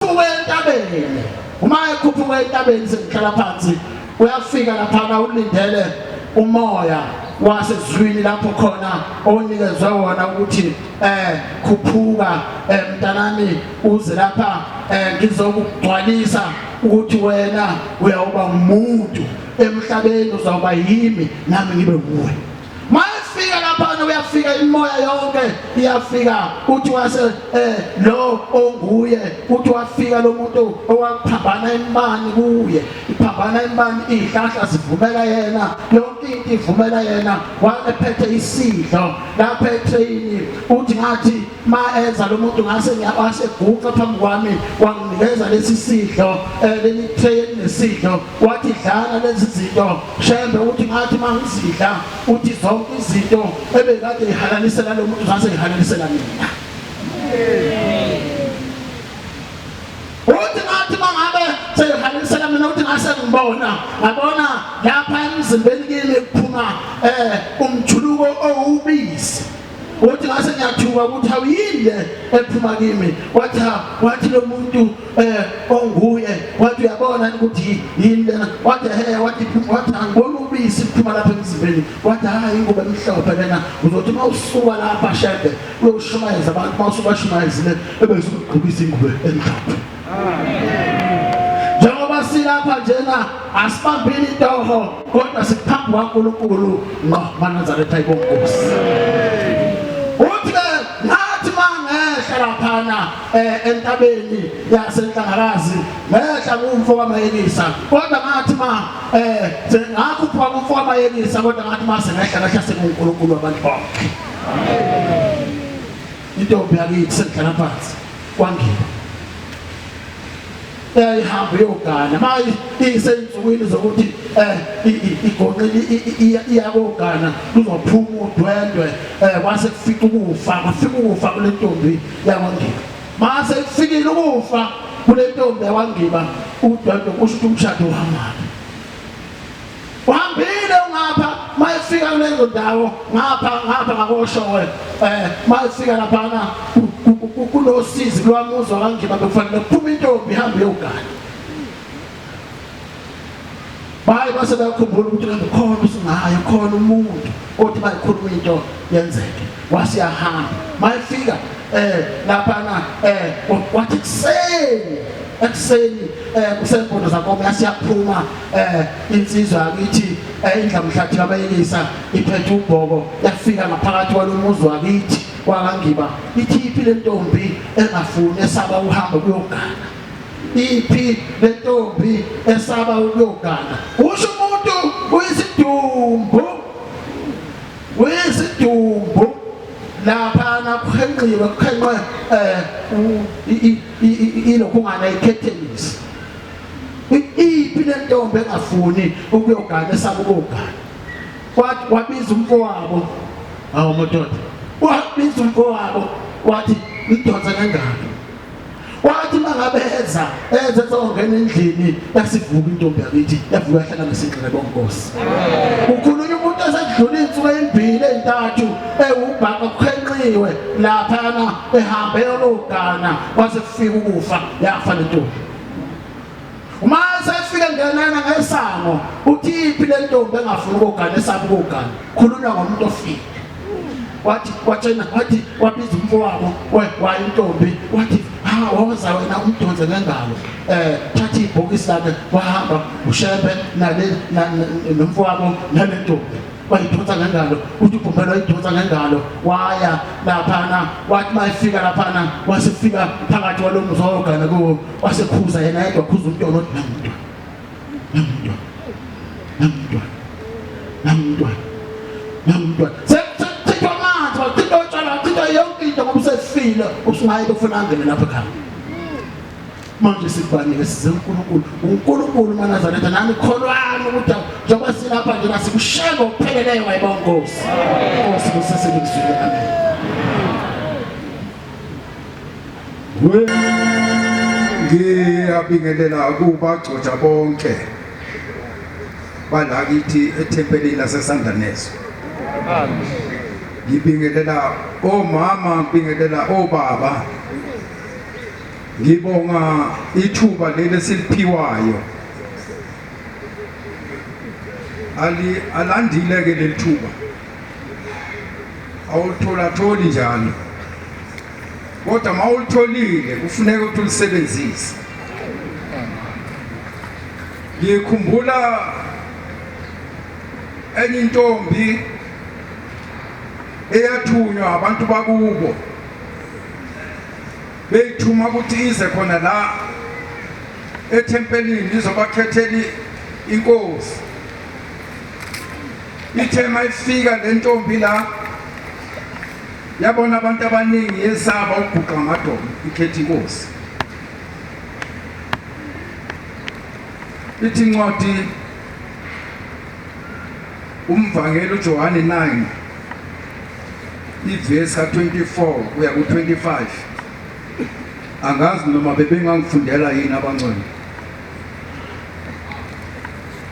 Ukhuphuka entabeni. Uma ekhuphuka entabeni sekuhlala phansi uyafika laphana ulindele umoya wasezwini lapho khona onikezwe wona ukuthi eh khuphuka eh, mntanami uze lapha eh, ngizokugcwalisa ukuthi wena uyawuba umuntu emhlabeni uzawuba yimi nami ngibe kuwe mayefika laphana uyafika imoya yonke iyafika uthi wase eh lo onguye uthi wafika lo muntu owaphambana imani kuye iphambana imani ihlahla zivumela yena yonke into ivumela yena waphethe isidlo lapha etrain uthi ngathi ma enza lo muntu ngase ngiyawase guqa phambi kwami wanginikeza lesi sidlo eh, leli tray nesidlo wathi dlala lezi zinto shembe uthi ngathi mangizidla uthi zonke izinto ebekade ihalanisela lo muntu ngase ihalanisela mina uthi ngathi mangabe seyihalanisela mina uthi ngase ngibona ngabona lapha emzimbeni kimi kuphuma eh umjuluko owubisi Uthi ngase ngiyathuka ukuthi hawu yini le ephuma kimi wathi wathi lo muntu eh onguye wathi uyabona ukuthi yini lena wathi he wathi wathi angibona ubisi liphuma lapha emzimbeni wathi hayi ingubo emhlophe lena uzothi uma usuka lapha shede uyoshumayeza abantu uma usuka shumayezile ebese ugqokisa ingubo emhlophe njengoba silapha njena asibambile itoho kodwa siphambi kwaNkulunkulu ngqo manazaretha ibonkosi uthi ke ngathi mangehla laphana eh, entabeni yasenhlangakazi ngehla kumfo kamayelisa kodwa ngathi ma eh sengakhupha kumfo kamayelisa kodwa ngathi ma sengehla ngehla sekuNkulunkulu abantu bonke intombi yakithi sengigana phansi kwangiba yayihamba iyogana manje iyisensukwini zokuthi um igonqile iyakogana luzophuma udwendwe um kwase kufica ukufa kwafika ukufa kule ntombi yakwangiba mase kufikile ukufa kule ntombi yakwangiba udwendwe kusho ukuthi umshado uhambaphi uhambile ungapha mayefika kulezo ndawo ngapha ngapha ngakoshowe eh mayefika laphana kunosizi kulwamuzwa kangiba bekufanele kuphume intombi ihambe yogana baye base bayakhumbula ukuthi khona usingayo khona umuntu kodwa bayikhuluma into yenzeke wase yahamba mayifika eh lapha na eh wathi kuseni ekuseni eh kusempondo zakomo yasiyaphuma eh insizwa yakithi eh, indlamhlathi yabayekisa iphethe ubhoko yafika ngaphakathi kwalomuzi wakithi wakangiba ithiphi lentombi engafuni esaba uhamba kuyogana iphi lentombi esaba ukuyogana usho umuntu uyisidumbu uyisidumbu lapha nakuhenqiwe kuhenqwe eh ilokhungana ikhethenisi iphi lentombi engafuni ukuyogana esaba ukugana kwathi wabiza umfowabo awu madoda wabiza umfowabo wathi ngidonsa kangaka wathi mangabeza enze songena endlini yasivuka intombi yakithi yavuka yahlala nesinqele bonkosi ukhulunywa umuntu esedlula insuku ezimbili ezintathu ewubhaka kukhenqiwe laphana ehambe yologana kwase kufika ukufa yafa lentombi uma sefike ngenana ngesango uthi iphi le ntombi engafuni ukugana esabe ukugana khulunywa ngomuntu ofile wathi watshena wathi wabiza umfo wabo wayintombi wathi ha waza wena umdonse ngengalo eh thatha ibhokisi lakhe wahamba ushebe nale nomfo wabo nale ntombi wayidonsa ngengalo uthi ugumbela wayidonsa ngengalo waya laphana wathi mayifika laphana wasifika phakathi walo mzogana kuwo wasekhuza yena yedwa khuza umntwana othi namntwana namntwana namntwana namntwana sekuthithwa amanzi wathithwa utshwala wathithwa yonke into ngoba usefile usungayi befuna angene lapho ekhaya manje sikubanike size uNkulunkulu uNkulunkulu manazaretha nami kholwani ukuthi njengoba silapha nje nasikushaya ngokupheleleyo wayibonkosi nkosi kusese likuzwile amen ngiyabingelela kubagcotshwa bonke balakithi ethempelini lasesandaneso ngibingelela omama ngibingelela obaba ngibonga ithuba leli esiliphiwayo ali alandile ke leli thuba awulutholatholi njalo kodwa uma ulutholile kufuneka ukuthi ulisebenzise ngikhumbula enye intombi eyathunywa abantu bakubo beyithuma ukuthi ize khona la ethempelini lizobakhethela inkosi Ithe mayifika le ntombi la yabona abantu abaningi yesaba ukubhuqa amadolo ikhetha inkosi. Ithi incwadi umvangeli uJohane 9 ivesi ka-24 kuya ku-25 angazi noma bebengangifundela yini abangcwele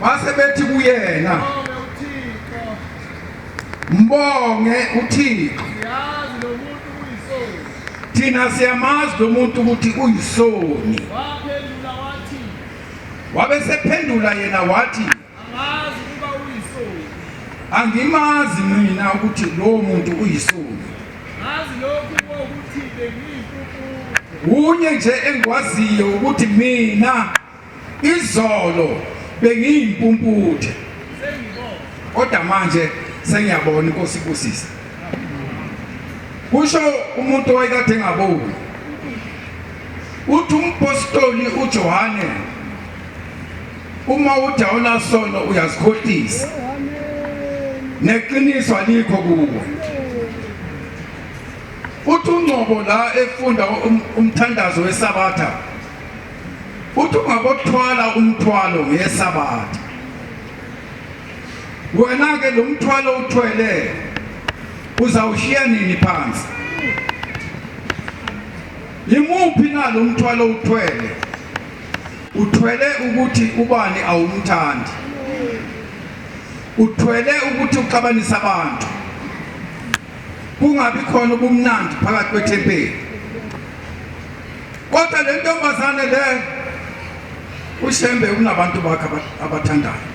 base bethi kuyena mbonge uthixo thina siyamazi lo muntu ukuthi uyisoni wabe sephendula yena wathi angimazi mina ukuthi lowo muntu uyisoni kunye nje engikwaziyo ukuthi mina Izolo bengiyimpumputhe kodwa manje sengiyabona inkosi ibusisa. Kusho umuntu owayekade engaboni. Uthi umpostoli uJohane uma uthi awunasono uyazikhohlisa neqiniso alikho kuwe uthi ungcobo la efunda um-, umthandazo wesabatha uthi ungakothwala umthwalo ngesabatha wena-ke lo mthwalo uthwele uzawushiya nini phansi yimuphi na lo mthwalo uthwele uthwele ukuthi ubani awumthandi uthwele ukuthi uxabanise abantu kungabi khona ubumnandi phakathi kwethempeli Kodwa le ntombazane le uShembe unabantu bakhe abathandayo.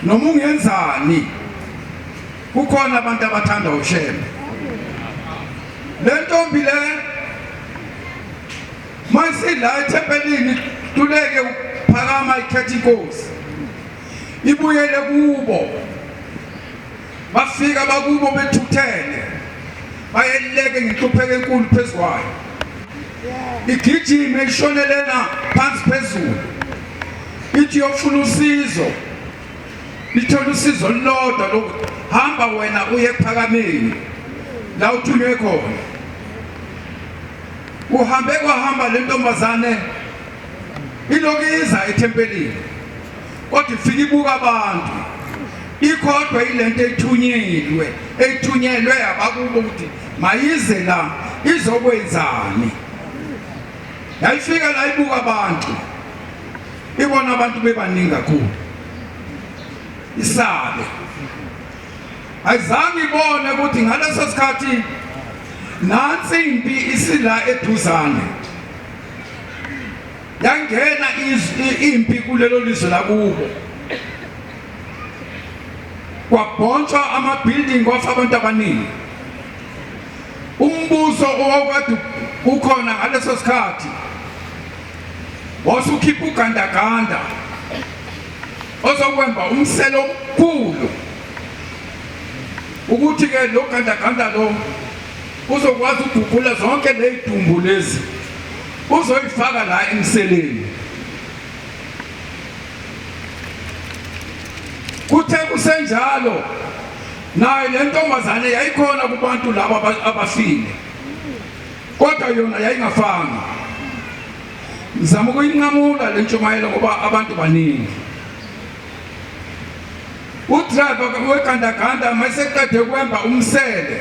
Noma ungenzani kukhona abantu abathanda uShembe. Le ntombi le mayisila ethempelini tuleke uphakama ikhetha inkosi. Ibuyele kubo. Bafika bakubo bethuthele bayeleke ngenhlupheko enkulu phezu kwayo igijime ishonelena phansi phezulu ithi yofuna usizo lithole usizo lodwa lokhu hamba wena uye ephakameni la uthunywe khona uhambe kwahamba le ntombazane ilokiza ethempelini kodwa ifike ibuka abantu ikhodwa ilento ethunyelwe ethunyelwe abakubo ukuthi mayize la izokwenzani yayifika la ibuka abantu ibona abantu bebaningi kakhulu isabe ayizange ibone ukuthi ngaleso sikhathi nansi impi isila eduzane Yangena impi kulelo lizwe lakubo. Kwabhontshwa ama building kwafa abantu abaningi. Umbuso owawukade ukhona ngaleso sikhathi wasukhipha ugandaganda ozokwemba umselo omkhulu ukuthi ke lo gandaganda lo uzokwazi ukugugula zonke ley'dumbu lezi Uzoyifaka la emseleni. Kuthe kusenjalo naye le ntombazane yayikhona kubantu laba aba- abafile kodwa yona yayingafanga ngizama ukuyinqamula le ntshumayelo ngoba abantu baningi udriver wegandaganda mayeseqede kwemba umsele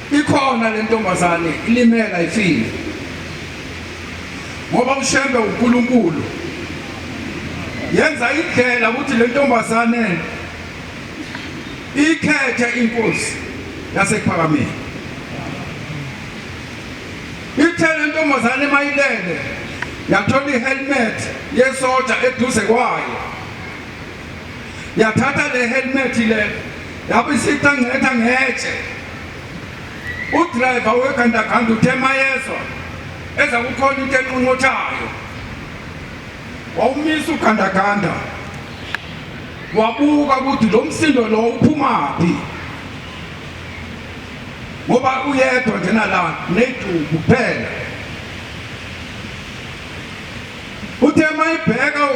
Ikhona le ntombazane ilimela ifile ngoba ushembe uNkulunkulu yenza indlela ukuthi le ntombazane ikhethe inkosi yasekuphakameni ithe le ntombazane mayilele yathola ihelmet yesoja eduze kwayo yathatha le helmet le yabisita ngcetha ngetshe udriver wegandaganda uthe mayezwa eza kukhona into enqonqothayo wawumisa ugandaganda wabuka ukuthi lo msindo lo uphumaphi ngoba uyedwa njena la neduku kuphela Uthe mayibheka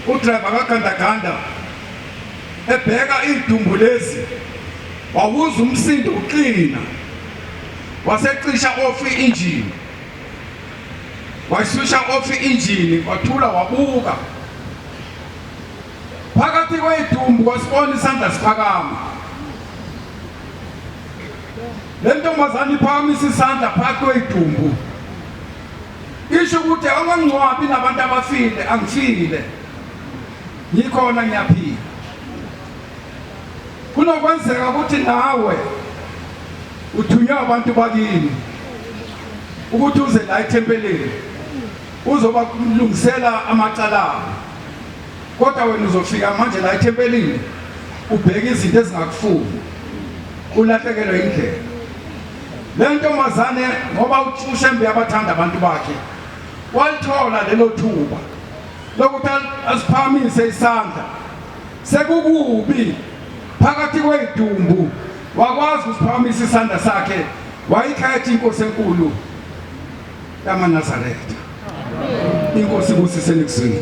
udriver kagandaganda ebheka iy'dumbu lezi wawuza umsindo uqina wasecisha off i-injini wayishusha off i-injini wathula wabuka phakathi kwey'dumbu wasibona isandla siphakama le ntombazane iphakamisa isandla phakathi kwey'dumbu Isho ukuthi awangcwabi nabantu abafile angifile ngikhona ngiyaphila kunokwenzeka ukuthi nawe uthunywe abantu bakini ukuthi uze la ethempelini uzoba kulungisela amacala abo kodwa wena uzofika manje la ethempelini ubheke izinto ezingakufuni ulahlekelwe indlela Le ntombazane ngoba uShembe yabathanda abantu bakhe walithola lelo thuba lokuthi asiphakamise isandla sekukubi phakathi kwey'dumbu wakwazi ukusiphakamisa isandla sakhe wayikhetha inkosi enkulu yamanazaretha inkosi ibusise nekuzwini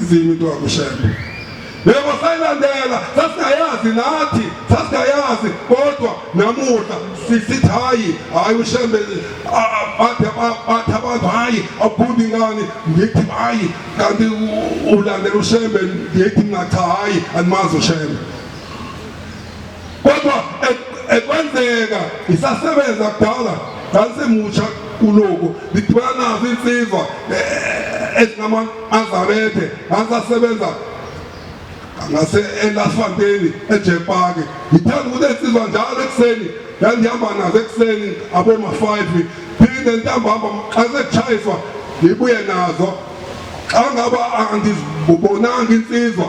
izimi into yakushembe yebo sayilandela sasingayazi nathi sasingayazi kodwa namuhla sisithi hayi hayi ushembe bathe abantu hayi awubundi ngani ngithi hayi kanti ulandela ushembe ngithi ngathi hayi andimazi ushembe kodwa e-, ekwenzeka isasebenza kudala ngangisemutsha kuloku ngidibana nazo insizwa e-, ezinama azarethe ngangisasebenza ngase elasifanteni ejepaki ngithanda ukuthi ensizwa njalo ekuseni yandihamba nazo ekuseni aboma-five phinde ntambamba xa sekuchayiswa ngibuye nazo xa ngaba angizibonanga insizwa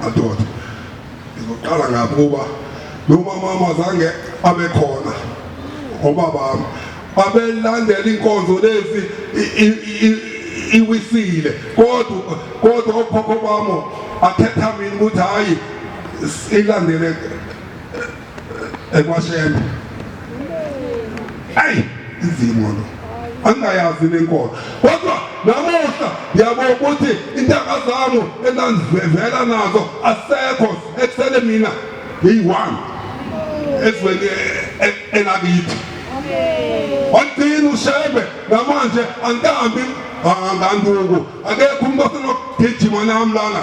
madoda ngizoqala ngabo kuba nomamama zange abe khona obabami babelandela inkonzo lezi iwisile kodwa kodwa okhokho bami athetha mina ukuthi hayi ilandele ekwashembe ayi izimo lo angayazi nenkolo kodwa namuhla ngiyabona ukuthi intanga zami enandivela nazo asekho ekusele mina ngiyi-one ezweni e, e, elakithi wagcina ushembe namanje angihambi nganduku akekho umuntu osenokugijima nami lana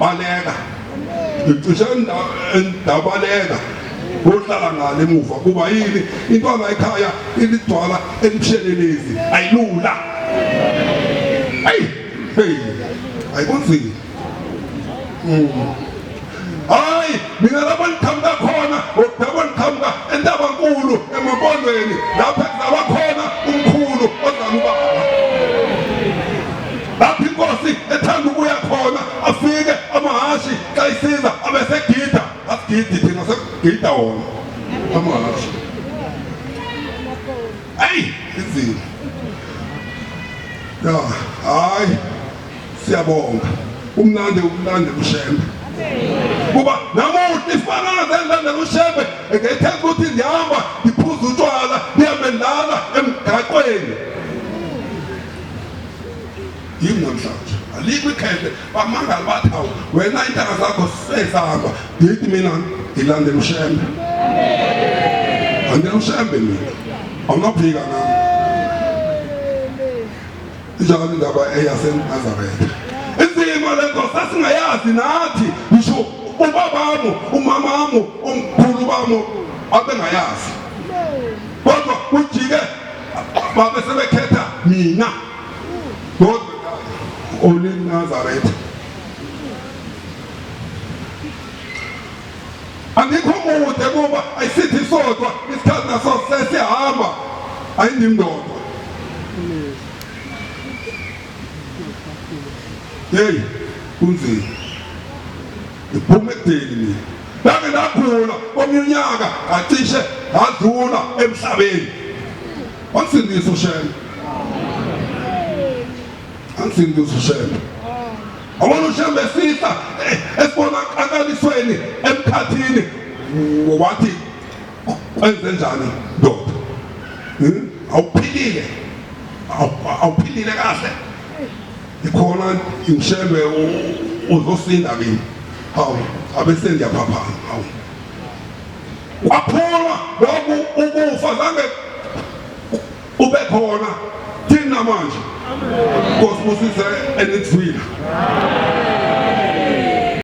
Baleka. Ngicishe endabaleka. Uhlala ngale emuva kuba yini intwana ekhaya ilidwala elibushelelezi ayilula. Hey, hey. Ayikunzima. Mm. Hayi, mina lapho ngiqhamuka khona, ngokudabwa ngiqhamuka entabankulu emapondweni lapho kuzalwa khona umkhulu ozalwa ubaba. lapho inkosi ethanda ukuya khona afike amahhashi xa isiza abesegida asigidi thina segida wona amahhashi eyi inzima ya hayi siyabonga umnandi umnandi kushembe kuba namuhla isifakazi endanda kushembe engethemba ukuthi ndihamba ndiphuza utshwala ndihambe ndala emgaqweni yingondlanje alikho ikhehla bamangala bathi awu wena intanga zakho sezihamba ngithi mina ngilandela ushembe andela ushembe mina awunaphika nami injalo indaba eyasenazaretha isimo lezo sasingayazi nathi ngisho ubabamo umamamo umkhulu bamo abengayazi kodwa ujike babe sebekhetha mina kodwa olinazaretha andikho mude kuba ayisithi isodwa isikhathi naso sesihamba ayindindodwa yeyi kunzima iphuma ekudeni mina Ngake ngagula omunye unyaka ngacishe ngadlula emhlabeni. Wansindisa uShembe. Wansindisa uShembe. Awona uShembe esihla eh, esibona akalisweni emkhathini wathi kwenze njani ndoda. Hmm? Awuphilile. Awuphilile kahle. ikhona ngishembe uzosinda kimi hawu abese ngiyaphaphama hawu waphuma loku ukufa zange ube khona thina manje nkosi busise enithwile